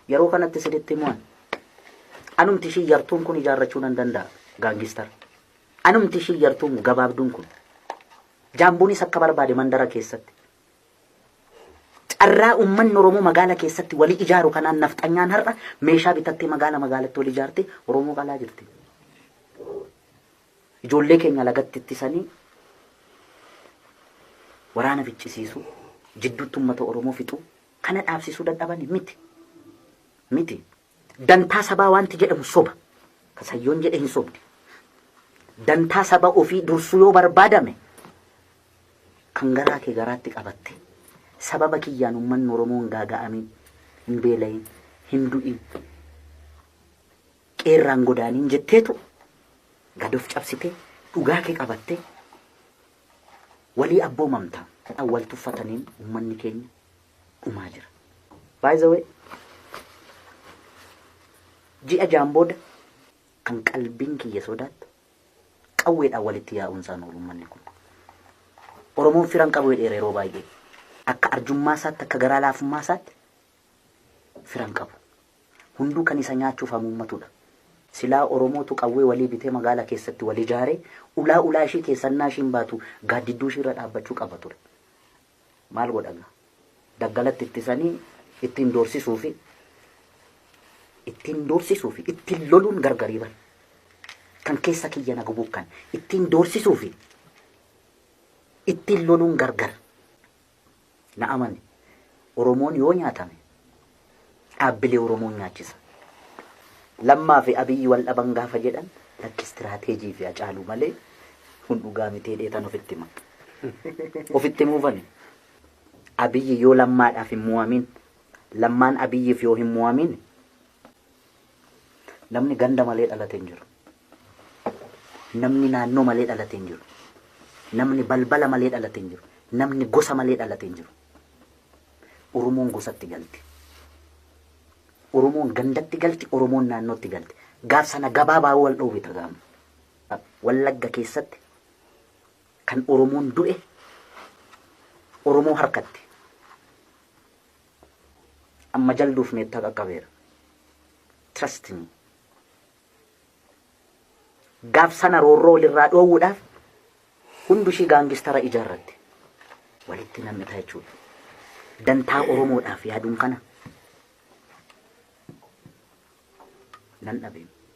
Yeroo kanatti isinitti himuan anumti ishii yartuun kun ijaarrachuu nan danda'a gaangistar. Anumti ishii yartuun gabaabduun kun jaambuunis akka barbaade mandara keessatti. Carraa uummanni Oromoo magaala keessatti walii ijaaru kanaan nafxanyaan har'a meeshaa bitattee magaala magaalatti wal ijaarte Oromoo qalaa jirti. Ijoollee keenya lagatti ittisanii waraana ficcisiisu jidduutti uummata Oromoo fixu Kana dhaabsisuu dadhabani? Miti. Miti. Dantaa sabaa waanti jedhamu soba. Ka Sayyoon jedhe hin sobdi. Dantaa saba ofii dursuu yoo barbaadame, kan garaa kee garaatti qabattee, sababa kiyyaan ummanni Oromoo hin gaaga'amiin, hin beela'iin, hin du'iin, qe'ee irraa hin godaaniin jetteetu gad of cabsitee, dhugaa kee qabattee, Walii abboomamta kan wal tuffataniin ummanni keenya dhumaa jira. By the way ji'a ja'an booda kan qalbiin kiyya sodaattu qawweedhaan walitti yaa'uun isaan oolu ummanni kun. Oromoon firan qabu jedheera yeroo baay'ee. Akka arjummaa isaatti akka garaa laafummaa isaatti fira hin qabu. Hunduu kan isa nyaachuuf hamuummatudha. Silaa Oromootu qawwee walii bitee magaala keessatti wal ijaaree ulaa ulaa ishii keessa ennaa ishiin baatu gaaddidduu ishiirra dhaabbachuu qaba ture. Maal godha gaa? Daggalatti ittisanii ittiin doorsisuufi ittiin doorsisuufi ittiin loluun gargarii bar. Kan keessa kiyya na gubuu kan ittiin doorsisuufi ittiin loluun gargar. Na amani Oromoon yoo nyaatame dhaabbilee Oromoon nyaachisa. Lammaa fi Abiyyi wal dhaban gaafa jedhan lakki istiraateejii fi Hacaaluu malee kun dhugaa miti jedheetan ofitti hima. Ofitti himuufani Abiyyi yoo Lammaadhaaf hin mu'amin Lammaan Abiyyiif yoo hin mu'amin Namni ganda malee dhalate hin jiru. Namni naannoo malee dhalate hin jiru. Namni balbala malee dhalate hin jiru. Namni gosa malee dhalate hin jiru. Oromoon gosatti galti. Oromoon gandatti galti, Oromoon naannootti galti. Gaaf sana gabaabaa wal dhoowwita gaama. Wallagga keessatti kan Oromoon du'e Oromoo harkatti. Amma jalduuf meettaa qaqqabeera. Trust me. Gaaf sana roorroo walirraa dhoowwuudhaaf hundu ishii gaangistara ijaarratte. Walitti nam'ita jechuudha. Dantaa Oromoodhaaf yaaduun kana nan dhabeem.